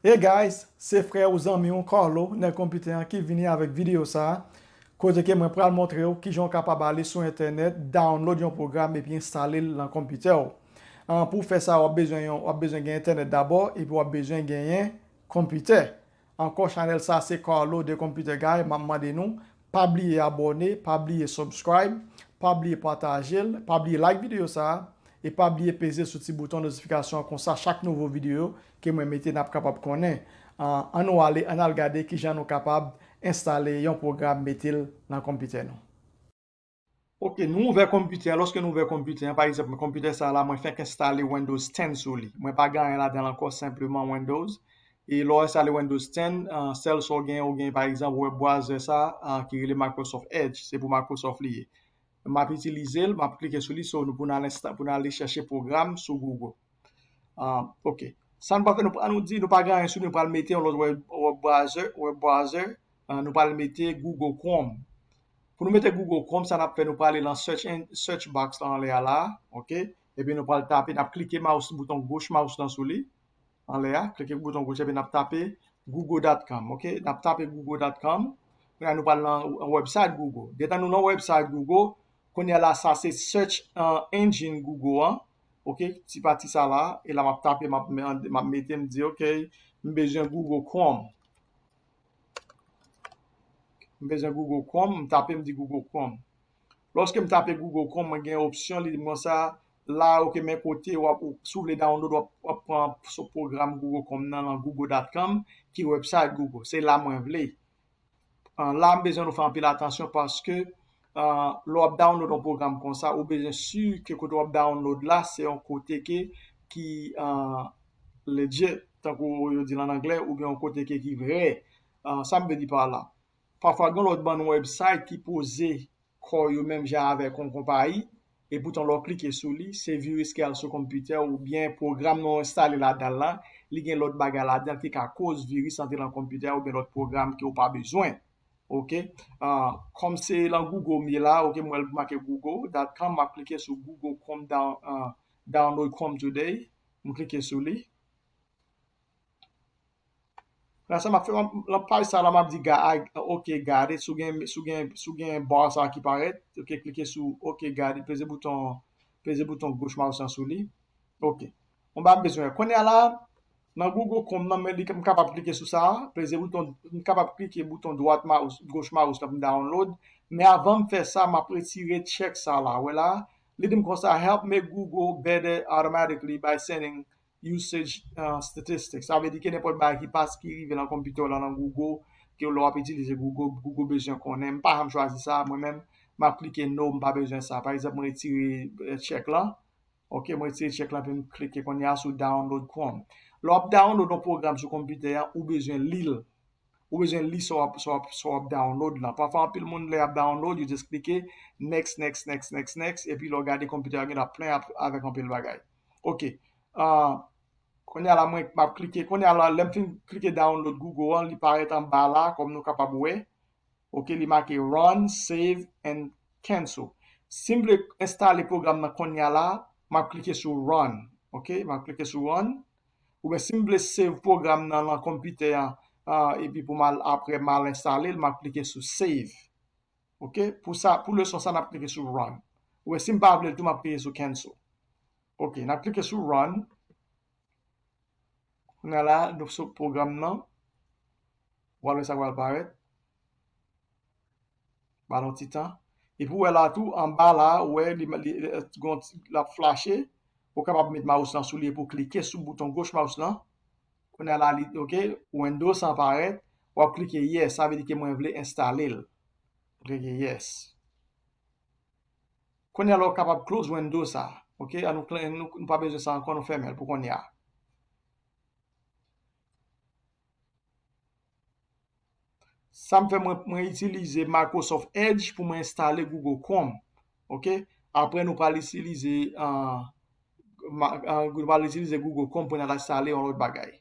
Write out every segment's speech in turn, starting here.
Hey guys, se frè ou zanmi ou Carlo nèg konpitè an ki vini avèk videyo sa a, kote ke mwen pral montre ou kijan ou kapab ale sou entènèt download yon pwogram epi enstale l lan konpitè ou. An pou w fè sa wap bezwen yon wap bezwen gen entènèt dabò epi wap bezwen genyen konpitè. Ankò chanèl sa se Carlo the computer guy map mande nou Pa bliye abòne, pa bliye subscribe, pa bliye pataje l, pa bliye like videyo sa a, e pa bliye peze sou ti bouton notifikasyon an konsa chak nouvo videyo ke mwen mete nap kapab konnen. An nou ale an al gade kijan nou kapab enstale yon pwogram mete l nan konpitè nou. Ok, nou ouvè konpitè an, lòske nou ouvè konpitè an, pa egzanp mwen konpitè sa la mwen fèk enstale Windows 10 sou li, mwen pa gen anyen ladan l ankò senpleman Windows, e lè w enstale Windows 10, sèl sa w gen, ou gen pa egzanp web browser sa a ki rele Microsoft Edge, se pou Microsoft li ye. M ap itilize l, m ap klike sou li so pou nou ale chèche pwogram sou Google. Ok, sa nou pral fè, nou pran nou di nou pa gen anyen sou li, nou pral mete yon lòt web browser, nou pral mete Google Chrome. Pou nou mete Google Chrome, sa nap fè nou prale lan search box lan anlè a la, ok, epi nou pral tape, nap klike mouse bouton goch mouse lan sou li, anlè a, klike bouton goch epi nap tape Google.com, ok, nap tape Google.com, kounya nou pral lan website Google. Detan nou lan website Google, kounya la sa se search engine Google an, ok, ti pati sa la, e la map tape, map mete, map di ok, m bezwen Google Chrome. M bezwen Google Chrome, m tape m di Google Chrome. Lòske m tape Google Chrome, mwen gen opsyon li di mwen sa, la ok men kote wap, si w vle download wap pran sou pwogram Google Chrome nan lan google.com ki website Google. Se la mwen vle. La m bezwen nou fè anpil atansyon paske Lè wap download yon pwogram konsa ou bezwen si ke kote wap download la se yon kote ke ki legit tankou yo dil an anglè oubyen yon kote ke ki vrè sam vle di par la pafwa gen lòt bann website ki poze kò yo menm jan avèk yon konpayi epoutan lè w klike sou li se viris ki al sou konpitè w oubyen pwogram nan w enstale ladanl lan li gen lòt bagay ladanl ki ka koz viris antre nan konpitè a oubyen lòt pwogram ke w pa bezwen. Ok Kom se lan Google m ye la ok m wè l make Google dot com map klike sou Google Chrome download Chrome today m klike sou li la sa map fè lan paj sa la map di ok got it sou gen bar sa ki parèt ok klike sou ok got it peze bouton goch mouse lan sou li ok m pa bezwen kounye a la Nan Google Chrome nan men li m kapab klike sou sa, peze bouton, m kapab klike bouton dwat mouse, goch mouse la pou m download, men avan m fè sa map retire check sa la, wè la, li di m konsa help make Google better automatically by sending usage statistics, sa vle di kenenpòt bagay ki pas ki rive nan konpitè w la nan Google ke lè wap itilize Google, Google bezwen konnen, m pa janm chwazi sa mwen menm, map klike no m pa bezwen sa, pa egzanp m retire check lan. Ok mwen retire check la epim klike konnya sou download chrome lè wap download yon program sou konpitè a ou bezwen lil ou bezwen li sa wap sa wap sa wap download lan pafwa anpil moun lè yap download yo just klike next next next next next epi lè w gade konpitè a gen la plen avèk anpil bagay ok ahh konnya la mwen map klike konnya la lèm fin klike download google an li parèt anba la kòm nou kapab wè Ok li make run, save and cancel. Sim vle enstale pwogram nan konnya la map klike sou run ok map klike sou run oubyen sim vle save pwogram nan lan konpitè an epi poum al aprè mal enstalel map klike sou save ok pou sa pou leson sa nap klike sou run oubyen sim pa vlel tou map klike sou cancel ok nap klike sou run. Kounye a la, nou sou pwogram nan. W pral wè sa k pral parèt. Ba l yon ti tan. Epi ou wè la tou, anba la a, ou wè li gen yon ti, l ap flache. Ou kapab met mouse lan sou li epi w klike sou bouton goch mouse lan. Kounye a la, li di ok, Windows lan parèt. W ap klike yes, sa vle di ke mwen vle enstale l. Klike yes. Konya la ou kapab close window sa ok an nou kle nou pa bezwen sa ankò nou fèmenl pou konya. Sam fè mwen mwen itilize Microsoft edge pou mwen enstale Google Chrome ok aprè nou pral itilize nou pral itilize Google Chrome pou nou al enstale yon lòt bagay.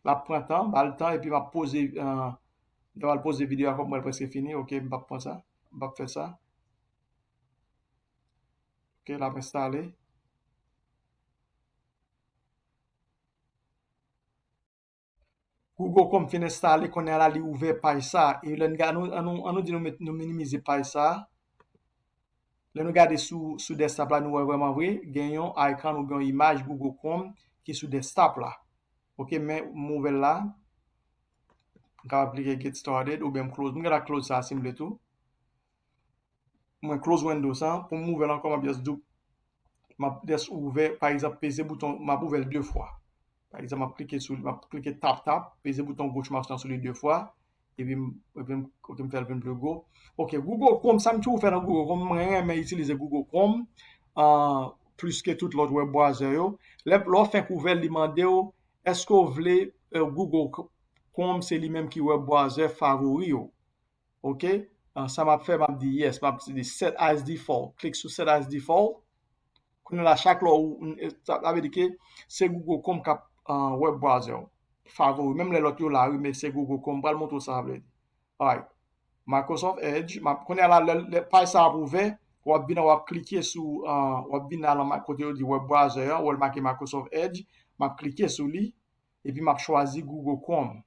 Lap pran tan, bal tan epi map poze m ta pral poze video a kòm mwen preske fini ok m pap pran sa m pap fè sa ok lap enstale. Google Chrome fin enstale kounye a la li ouvè paj sa e lè n gad an nou di nou minimize paj sa. Lè nou gade sou sou desktop la nou wè vreman vre gen yon icon oubyen yon imaj Google Chrome ki sou desktop la ok men m ouvè l la m kapab klike get started oubyen m close m gentan close sa si m vle tou mwen close windows an pou m ouvè l ankò m ap just map just ouvè pa egzanp peze bouton map ouvèl 2 fwa pa egzanp map klike sou li map klike tap tap peze bouton goch mouse lan sou li 2 fwa epi m epi m ok m fèl vin pli gwo ok google chrome sa m toujou fè nan google chrome mwen renmen itilize google chrome an plis ke tout lòt web browser yo lè lè w fenk ouvèl li mande w èske w vle google chrome se li menm ki web browser favori w ok sa map fè map di yes map di set as default klik sou set as default kounye la chak lè ou sa vle di ke se google chrome kap web browser ou favori menm lè lòt yo la wi men se google chrome pral montre ou sa vle di alright microsoft edge kounye la lè paj sa ap ouvè wap vin wap klike sou wap vin nan nan kote yo di web browser ou wè l make microsoft edge map klike sou li epi map chwazi google chrome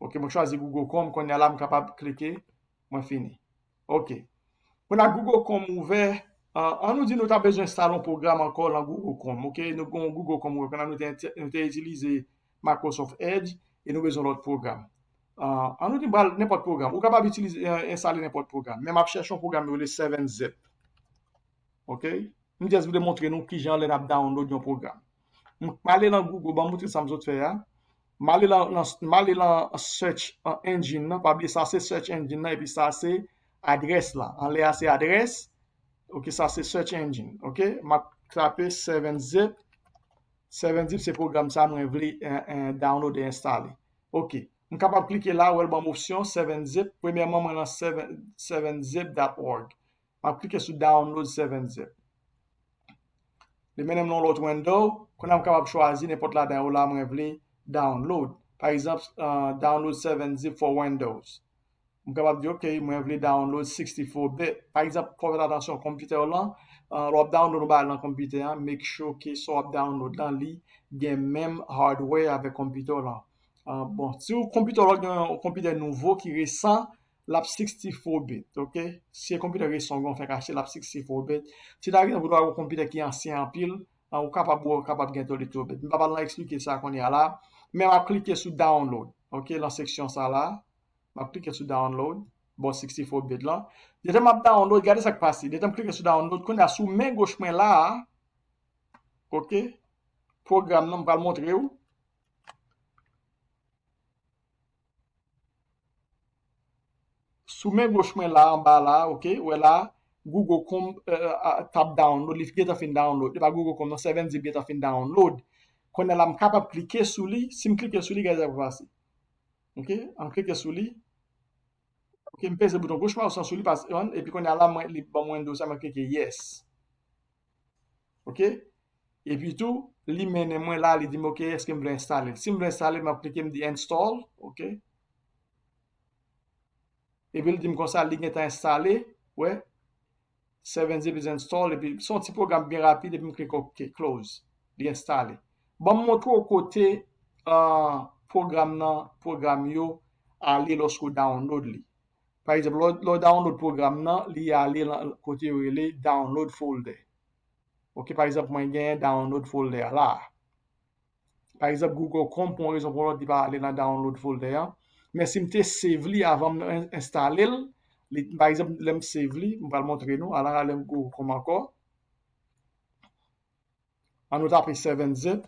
Ok, mwen chwazi Google Chrome, konya la m kapab klike, mwen fini. Ok, pou nan Google Chrome ouvè, an nou di nou ta bezwen install yon program ankò lan Google Chrome, ok, nou gon Google Chrome ouvè, konya nou te itilize Microsoft Edge, e nou bezwen lòt program. An nou di m pral nenpòt program, ou kapab itilize, installe nenpòt program, men m ap chèche yon program yo rele 7-zip. Ok, m just vle montre nou kijan lè n ap download yon program. M k ale lan Google banm moutre sam sot fè a M ale lan m ale lan search engine nan pa bliye sa se search engine nan epi sa se adrès la anlè a se adrès ok sa se search engine ok map tape 7 zip 7 zip se pwogram sa mwen vle download e enstale ok m kapab klike la wè l banm opsyon 7 zip premyèman mwen lan 7 zip dap org Map klike sou download 7zip. Li mennen m nan yon lòt window. Kounye a m kapab chwazi nenpòt ladan yo la mwen vle download. Pa egzanp, download 7zip for windows. M kapab di ok, mwen vle download 64 bit. Pa egzanp, fò w fè atansyon konpitè w lan, lè w ap download yon bagay nan konpitè an, make sure ke sa w ap download lan li gen menm hardware avèk konpitè w lan. Bon, si w konpitè w lan gen yon konpitè nouvo ki resan, lap sixty four bit ok si e konpitè ke son'w gen ou fèk achte lap sixty four bit si ta gen ou dwa gen yon konpitè ki ansyen anpil ou kapab ou kapab gen thirty two bit m pa pral nan eksplike sa kounya la men wap klike sou download ok nan seksyon sa la wap klike sou download bò sixty four bit lan detan map download gade sak pase detan m klike sou download kounya sou men goch mwen la ok pwogram nan m pral montrew Sou men goch mwen la anba la ok ou wè la Google Chrome t ap download li gentan fin download se pa Google Chrome non 7 zip gentan fin download kounye la m kapab klike sou li si m klike sou li gade sa k ap pase ok m klike sou li ok m peze bouton goch mouse lan sou li epi kounye la li ban m Windows la mwen klike yes Ok. E pi tou, li mennen mwen la, li di m ok, eske m vle enstale l. Si m vle enstale l, m ap klike, m di install, ok. E pi l di m konsa li gentan enstale, ou wè. 7zip is installed, e pi se yon ti pwogram byen rapid, e pi m klike ok, close. Li enstale. Ban m montre w kote pwogram nan, pwogram yo ale lòske w download li. Pa egzanp, lè w download pwogram nan, li ale lan kote yo rele download folder. Ok, pa egzanp mwen gen download folder a la a. Pa egzanp Google Chrome pou yon rezon pou yon lòt li pa ale lan download folder an. Men si m te save li avan m enstale l, li, pa egzanp lè m save li, m pral montre nou, ala lè m Google Chrome ankò. An nou tape 7zip.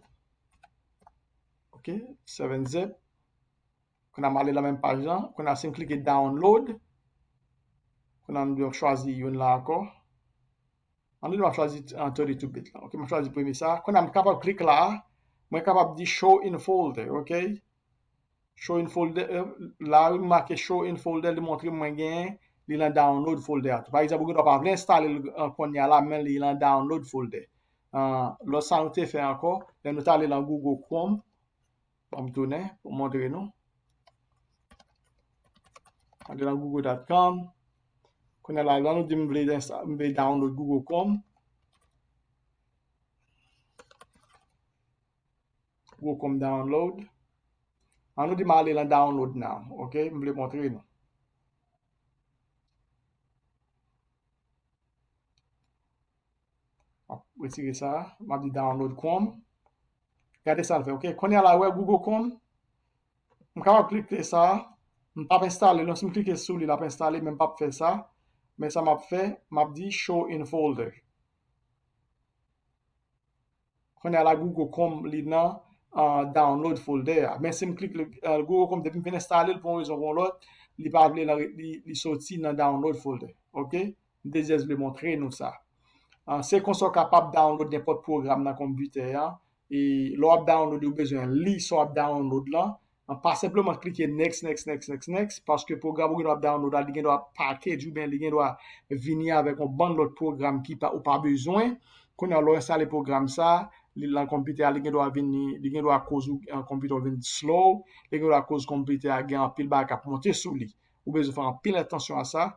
Ok, 7zip. Kounya m ale nan menm paj lan. Kounya si m klike download. Kounya m gen chwazi youn la ankò. An nou ta chwazi 32 bit la. Ok, m chwazi premye sa. Kounya m kapab klik la a. Mwen kapab di show in folder. Ok. Show in folder, euh, la wi m make show in folder li montre m mwen gen li lan download folder a tou. Pa egzanp ou gen dwa pa vle enstale l euh, konya la men li lan download folder. Uh, lòt sa nou te fè ankò, lè nou tale lan Google Chrome, m tounen pou montre nou. Ande lan google.com. Konya la, lan nou di m vle, m vle download Google Chrome. Welcome download. An nou di m ale lan download now. Ok, m vle montre nou. Map retire sa. Map di download Chrome. Gade sa l fè. Ok, konya la wè Google Chrome. M kapab klike sa. M pap enstale l. Si m klike sou li lap enstale men m pap fè sa. Men sa map fè, map di show in folder. Kounye a la Google Chrome li nan Download folder a. Men si m klik Google Chrome depi m fin enstale l pou yon rezon pou yon lòt, li pa vle li soti nan Download folder. Ok. M te just vle montre nou sa. Se konsa w kapab download nenpòt pwogram nan konpitè a. E lè w ap download li ou bezwen li sa w ap download lan. An pa senpleman klike next next next next next paske pwogram ou gen dwa ap download la li gen dwa package ou byen li gen dwa vini avèk yon bann lòt pwogram ki pa ou pa bezwen kounye a lè w enstale pwogram sa li lan konpitè a li gen dwa vini li gen dwa koz ou konpitè w vin slow li gen dwa koz konpitè a gen anpil bagay k ap monte sou li ou bezwen fè anpil atansyon a sa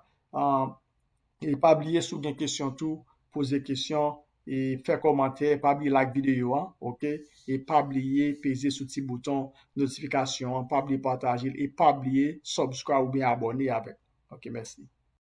e pa bliye si w gen kesyon tou poze kesyon e fè kòmantè, pa bliye like videyo an ok, e pa bliye peze sou ti bouton notifikasyon an, pa bliye patajel e pa bliye subscribe oubyen abone avèm ok mèsi.